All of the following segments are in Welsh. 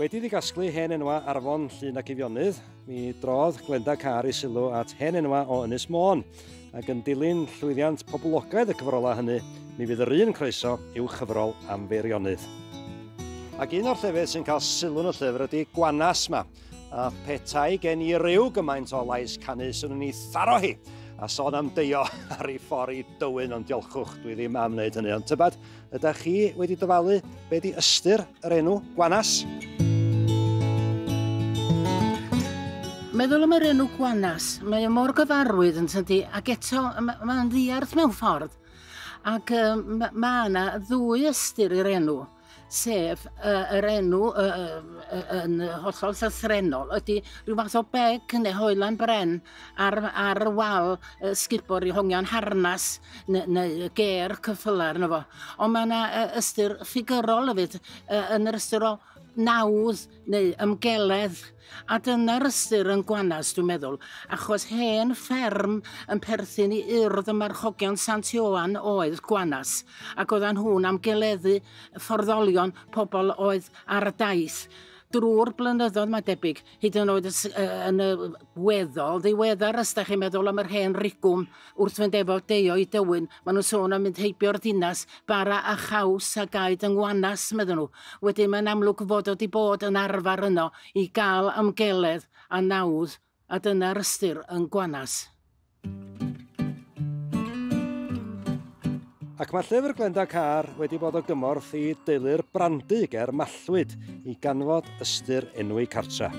Wedi iddi gasglu hen enwa ar afon Llun ac Eifionydd, mi drodd Glenda Car i sylw at hen enwa o Ynys Môn, ac yn dilyn llwyddiant poblogaidd y cyfrolau hynny, mi fydd yr un croeso i'w chyfrol am Feirionydd. Ac un o'r llefydd sy'n cael sylw yn y llyfr ydy Gwanas 'ma. A petai gen i ryw gymaint o lais canu, swn i'n ei tharo hi a sôn am deio ar ei ffordd i dywyn, ond diolchwch, dwi ddim am wneud hynny. Ond tybad, ydych chi wedi dyfalu be di ystyr yr enw Gwanas? Meddwl am yr enw Gwanas, mae o mor gyfarwydd yn tydi, ac eto mae'n ma ddiarth mewn ffordd. Ac um, mae yna ddwy ystyr i'r enw. sef uh, yr enw uh, uh, yn hollol llythrenol, ydy rhyw fath o beg neu hoelan bren ar, ar y wal uh, sgubor i hongian harnas neu, neu ger cyffylar yna fo. Ond mae yna uh, ystyr ffigurol hefyd uh, yn yr ystyr o nawdd neu ymgeledd a dyna'r ystyr yn gwanas dwi'n meddwl achos hen fferm yn perthyn i urdd y marchogion Sant Ioan oedd gwanas ac oedden nhw'n amgeleddu fforddolion pobl oedd ar y daith drwy'r blynyddoedd mae debyg hyd yn oed yn y weddol ddiweddar os da chi'n meddwl am yr hen rigwm Wrth fynd efo Deo i Dywyn, maen nhw'n sôn am mynd heibio o'r dinas, bara a chaws a gaed yng Ngwanas, meddwn nhw. Wedyn mae'n amlwg fod o 'di bod yn arfer yno i gael amgeledd a nawdd a dyna'r ystyr yn Gwanas. Ac mae llyfr Glenda Carr wedi bod o gymorth i deulu'r Brandy ger Mallwyd i ganfod ystyr enwau cartra.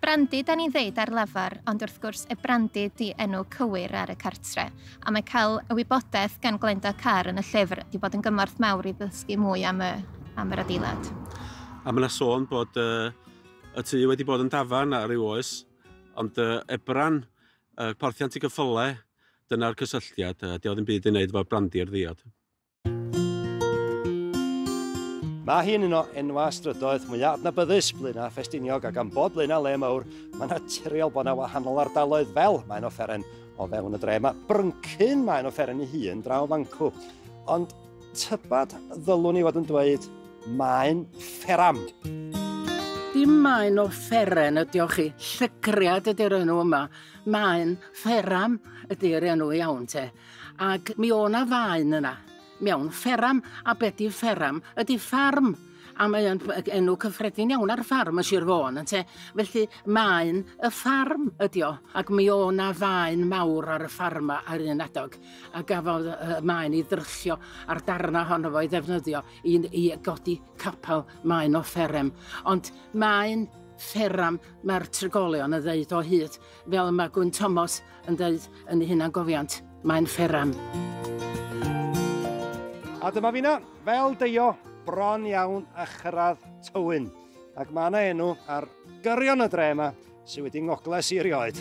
Brandy da ni'n ddeud ar lafar, ond wrth gwrs y Brandy di enw cywir ar y cartre, a mae cael y wybodaeth gan Glenda Carr yn y llyfr wedi bod yn gymorth mawr i ddysgu mwy am y, am yr adeilad. A mae yna sôn bod uh, y tŷ wedi bod yn dafarn ar ryw oes, ond uh, ebran uh, porthiant i gyffyle Dyna'r cysylltiad, a 'di o ddim byd i wneud efo brandi'r ddiod. Mae hi'n un o enwau strydoedd mwyaf adnabyddus Blaenau Ffestiniog ac am bod Blaenau le mawr, mae'n naturiol bod yna wahanol ardaloedd fel mae'n offeren o fewn y dre. Mae Bryncyn mae'n offeren ei hun draw fancw, ond tybed ddylwn i fod yn dweud mae'n fferam. Dim mae'n offeren ydi o chi, llygriad ydy'r enw yma. Maen, fferam ydy'r enw iawn te, ac mi o' 'na faen yna. Mi awn, fferam, a be' 'di fferam? Ydi ffarm, a mae o'n enw cyffredin iawn ar ffarm yn Sir Fôn ynte? Felly maen y ffarm ydi o, ac mi o' 'na faen mawr ar y ffarm 'ma ar un adeg, a gafodd y maen i dryllio a'r darna ohono fo i ddefnyddio i i godi capel maen o fferem. Ond maen fferam Mae'r trigolion yn dweud o hyd, fel y mae Gwyn Tomos yn dweud yn ei hunangofiant, mae'n fferam. A dyma fi na, fel deio, bron iawn a chyrraedd Tywyn. Ac mae yna enw ar gyrion y dre yma sydd wedi ngogles i erioed.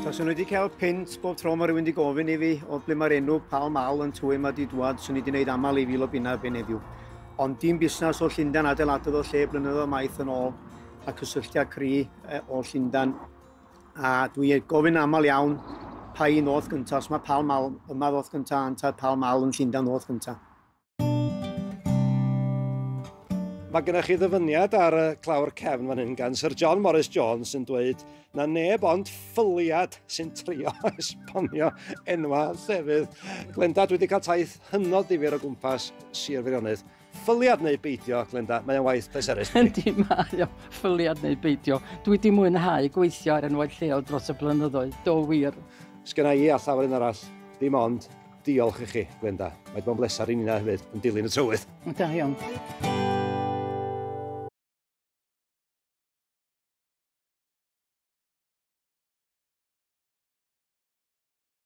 Os o'n wedi cael pint bob tro mae rhywun wedi gofyn i fi o ble mae'r enw Pal Mal yn Tywyn mae wedi dwad, swn i wedi gwneud aml i fil o bunna erbyn heddiw. Ond dim busnes o Llundain adeiladodd o lle blynyddoedd maith yn ôl. a cysylltiad cri e, o Llundan. A dwi ei gofyn aml iawn pa un oedd gyntaf, os mae Pall Mal yma oedd gyntaf, anta'r Pall Mal yn Llundan oedd gyntaf. Mae gennych chi ddyfyniad ar y clawr cefn fan hyn gan Sir John Morris Jones sy'n dweud na neb ond ffyliad sy'n trio esbonio enwa llefydd. Glenda, dwi wedi cael taith hynod ddifur o gwmpas Sir Feirionydd. Ffyliad neu beidio, Glenda, mae'n waith pleserus. Yndi, mae o. Ffyliad neu beidio. Dwi wedi mwynhau gweithio ar enwau lleol dros y blynyddoedd, do wir. Sgynna i a llawer un arall, dim ond diolch i chi, Glenda. Mae wedi bod yn bleser i Nina hefyd, yn dilyn y trywydd. Da iawn.